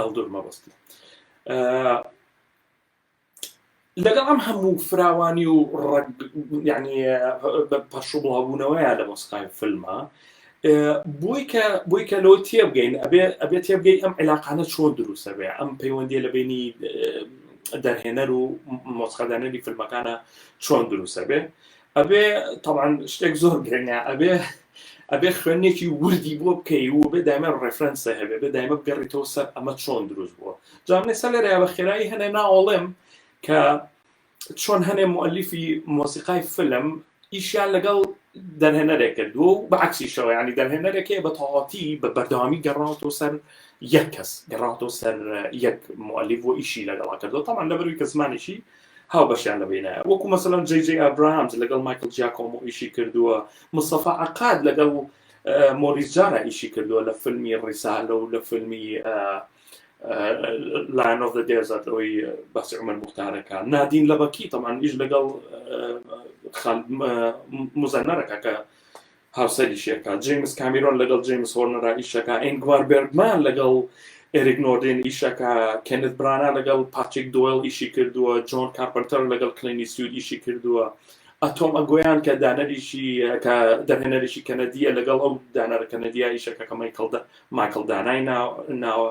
هەڵدور مەبەستی لەگەڵ ئەم هەموو فراوانی و ینی پەشوبڵاوبوونەوەیە لە مۆسقای فلمە بۆی کە بۆی کە لەوە تێبگەین ئەبێ ئەبێ تێبگەی ئەم علاقانە چۆن دروستە بێ ئەم پەیوەندی لە بینی دەرهێنەر و مۆسخەدانەری فیلمەکانە چۆن دروستە بێ ئەبێ تەبعەن شتێک زۆر گرنگە ئەبێ ئەبێ خوێندنێکی وردی بۆ بکەی و بێ دایمە ڕێفرەنسە هەبێ بێ دایمە بگەڕیتەوە سەر ئەمە چۆن دروست بووە جامێ سەر لەرەیە بە خێرایی هەنێ ناوەڵێم کە چۆن هەنێ مؤلفی مۆسیقای فلم ئیشیان لەگەڵ دەرهێنەرێک کردووە و بەعکسیشەوە ینی دەرهێنەرێکێ بە تەواتی بە بەردەوامی گەڕاوەوە سەر یەک کەس گەڕاتەوە سەر یەک مؤلف و ئیشی لەگەڵا کردو تاوان لەبەروی کە زمانیشی هاوبەشیان لە بینایە وەکو مەسەلەن جەی جەی ئابراهامز لەگەڵ مایکل جیاکۆمۆ ئیشی کردووە مستەفا عەقاد لەگەڵ مۆریس جارا ئیشی کردووە لە فیلمی ڕیسالە و لە فیلمی لایەن ئۆف دێزات ئەوی باسی عمر مختارەکە نادین لەبەکی تەمان ئیش لەگەڵ مزەنەرەکە کە هاوسەریشی ئەکات جەیمس کامیرۆن لەگەڵ جەیمس هۆرنەرا ئیشەکە ئینگوار بێرگمان لەگەڵ ئێریک نۆردێن ئیشەکە کێنت برانا لەگەڵ پاتریک دۆیل ئیشی کردووە جۆن کارپنتەر لەگەڵ کلینی سوود ئیشی کردووە ئەتۆم ئەگۆیان کە دانەریشی کە دەرهێنەریشی کەنەدیە لەگەڵ ئەو دانەرە کەنەدیە ئیشەکە کە مایکڵدا مایکڵ دانای ناوە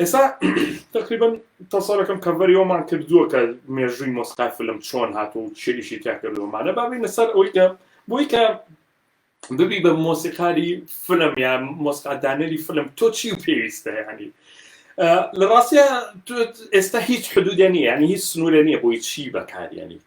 ئێسا تقریبن تەسەرەکەم کەڤەری ئەومان کردووە کە مێژووی مۆسقای فلم چۆن هاتو و چێریشی تیا کردومانە بابینە سەر ئەوی کە بۆی کە ببی بە مۆسیقاری فلم یا مۆسقادانەری فلم تۆ چی و پێویستە ینی لە ڕاستە ئێستا هیچ حدودێ نیە ینی هیچ سنوورە نیە بۆی چی بەکاریانیت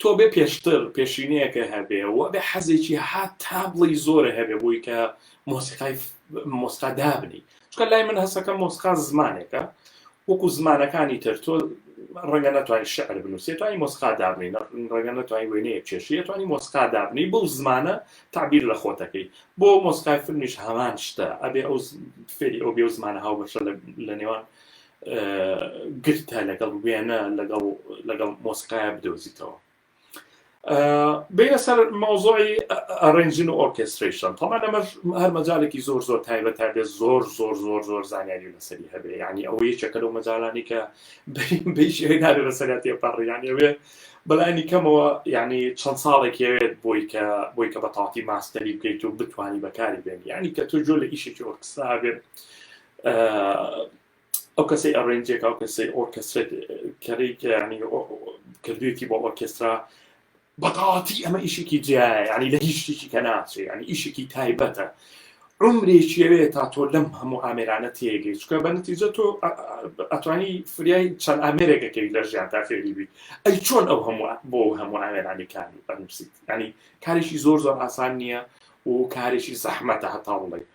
تۆ بێ پێشتر پێشینەیەکە هەبێ و بێ حەزێکی ها تا بڵی زۆرە هەبێ بۆی کە مۆسیقای مۆستا دابنی چکە لای من هەسەکە مۆسقا زمانێکە وەکو زمانەکانی تر تۆ ڕەنگە نتوانین شعر بنووسێت توانی مۆسقا دابنی ڕەنگە نتوانین وێنەیە چێشیە توانی مۆسقا دابنی بەو زمانە تعبیر لە خۆتەکەی بۆ مۆسقای فرمیش هەمان شتە ئەبێ ئەو فێری ئەو بێ زمانە هاو بەشە لە نێوان گرتە لەگەڵ وێنە لەگەڵ لەگەڵ مۆسیقایا بدۆزیتەوە بینە سەر مەوزۆی ئەڕێنجین و ئۆرکستریشن تەمان لەمە هەر مەجالێکی زۆر زۆر تایبەت تا بێت زۆر زۆر زۆر زۆر زانیاری لەسەری هەبێ ینی ئەوە یەکێکە لەو مەجالانی کە بینارێ لەسەراتێ پەڕیان ئەوێ بەلانی کەمەوە ینی چەند ساڵێک هەوێت بۆی کە بۆی کە بە تاتی ماستەری بکەیت و بتانی بەکاری بێن ینی کە تۆ جۆ لە ئیشێکی ئۆرکستا بێت ئەو کەسەی ئەڕێنجێک ئەو کەسەی ئۆرکەسرێت کەری کەیانی کردوێکی بۆ ئۆرکسترا بەتەواتی ئەمە ئیشێکی جیایە ینی لە هیچ شتێکی کە ناچێ ینی ئیشێکی تایبەتە عمرێکیەوێ تا تۆ لەم هەموو ئامێرانە تێگەی چکە بە نتیجە تۆ ئەتوانی فریای چەند ئامێرێکەکەی لە ژیان تا فێری بیت ئەی چۆن ئەو هەموو بۆ هەموو ئامێرانی کار بەنووسیت ینی کارێکی زۆر زۆر ئاسان نییە و کارێکی زەحمەتە هەتا بڵێ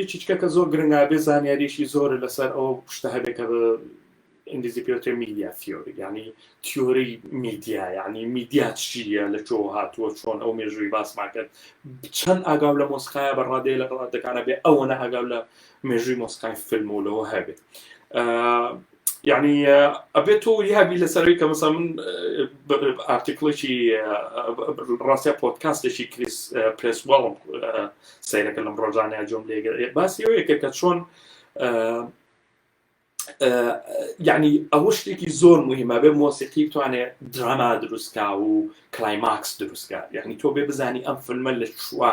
یەکیچکە کە زۆر گرنگابێ زانیاریشی زۆر لەسەر ئەو شتە هەبێت کە ئینگلیزی پێوتێ میدیا تیۆری ینی تیۆری میدیا ینی میدیا چیە لە چۆ هاتووە چۆن ئەو مێژووی باسمان کرد چەند ئاگاو لە مۆسقایە بە ڕادێ لە ڕادەکانە بێ ئەوەنە ئاگاو لە مێژووی مۆسقای فیلم و لەوە هەبێت یعنی ئەبێت تۆ یابی لەسەروی کە مەسا من ئارتیکڵێکی ڕاستە پۆتکاستێکی کریس پرس واڵم سیرەکە لەم ڕۆژانەیە جۆم لێگەر باسی ئەوەیەکە کە چۆن یعنی ئەوە شتێکی زۆر مهمە بێ مۆسیقی بتوانێ دراما دروستکە و کلایماکس دروستکە یعنی تۆ بێ بزانی ئەم فلمە لە چوە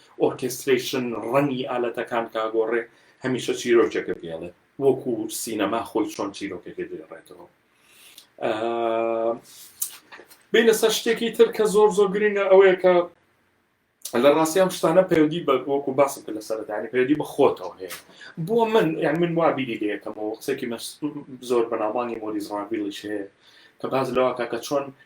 ئۆرکێسترەیشن ڕەنگی ئالەتەکان کاگۆڕێ هەمیشە چیرۆکێکە دێڵێ وەکو سینەما خۆی چۆن چیرۆکەکە دێڕێتەوە بین لەسەر شتێکی تر کە زۆر زۆر گرنگە ئەوەیە کە لە ڕاستیان شتانە پەیوەندی بە وەکو باسم کە لە سەرەتانی پەیوەندی بە خۆتەوە هەیە بۆ من یان من وابیری لەکەمەوە قسێکی زۆر بەناوبانگی مۆریز ڕاویڵیش هەیە کە باز لەوە کاکە چۆن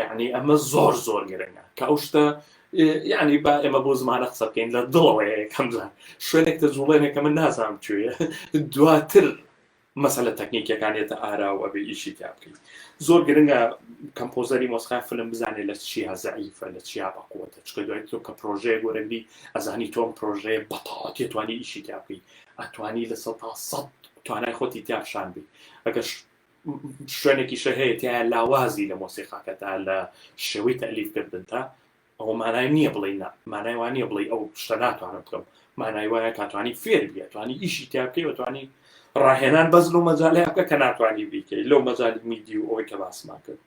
یعنی ئەمە زۆر زۆر گرنگە کە ئەو شتە یعنی با ئێمە بۆ زمانە قسە بکەین لە دڵەوەیە کەمزان شوێنێک تە جوڵێنێکە من نازانم کوێە دواتر مەسەلە تەکنیکەکانێتە ئارا و ئەبێ ئیشی تا بکەین زۆر گرنگە کەمپۆزەری مۆسخای فلم بزانێت لە چیا زعیفە لە چیا بەقوتە چکە دوای تۆ کە پرۆژەیە گۆرەبی ئەزانی تۆم پرۆژەیە بەتەواتی توانی ئیشی تا بکەیت ئەتوانی لە سە تا سە توانای خۆتی تیاخشان بی ئەگەر شوێنێکیشە هەیە تیایە لاوازی لە مۆسیقاکەتا لە شێوەی تەلیفکردنتا ئەوە مانای نییە بڵێ نا مانای وانە بڵێ ئەو شتە ناتوانم بکەم مانای وایە کاتوانی فێر بیە توانی ئیشی تیا بکەی وتوانی ڕاهێنان بەس لەو مەجاالەیە بکە کە ناتوانانی بیکەی لەو مەجای میدی و ئەوەی کە باسمان کرد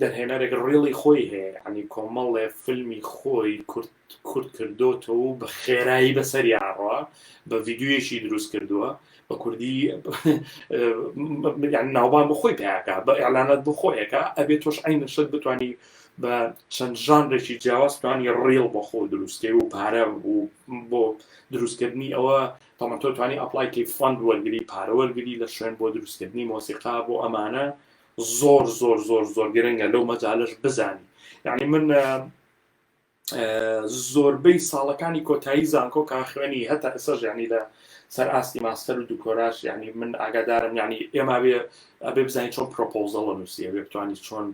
دەرهێنەرێک ڕیڵی خۆی هەیە یەعنی کۆمەڵێ فلمی خۆی کورت کورت کردۆتەوە و بە خێرایی بەسەریا ئەڕوا بە ڤیددیویەکی دروست کردووە بە کوردی ناوبان بۆ خۆی پیاکە بە ئەلانات بۆ خۆیەکە ئەبێت تۆش ئەین شت بتانی بە چەند ژانرێکی جیاوازتوانی ڕیڵ بە خۆ دروستکەی و پارە و بۆ دروستکردنی ئەوە تەمەتۆ توانی ئەپلایکی فند وەرگری پارە وەرگری لە شوێن بۆ دروستکردنی مۆسیقا بۆ ئەمانە زۆر زۆر زۆر زۆر گرنگە لەو مەجالش بزانی یعنی من زۆربەی ساڵەکانی کۆتایی زانکۆ کا خوێنی هەتا ئەسەر ژانی لە سەر ئاستی ماستەر و دوکۆراش ینی من ئاگادارم ینی ئێمە بێ ئەبێ بزانین چۆن پرۆپۆزە لە نووسی ئەبێ بتوانانی چۆن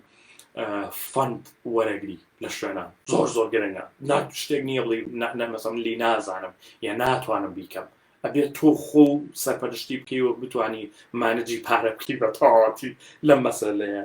فند وەرەگری لە شوێنە زۆر زۆر گرنگە نا شتێک نییە بڵی نەمەسەم لی نازانم یا ناتوانم بیکەم ئەبێت تۆ خۆو سەرپەرشتی بکەی و بتانی مانجی پارە بکەی بە تەواتی لەم مەسەلەیە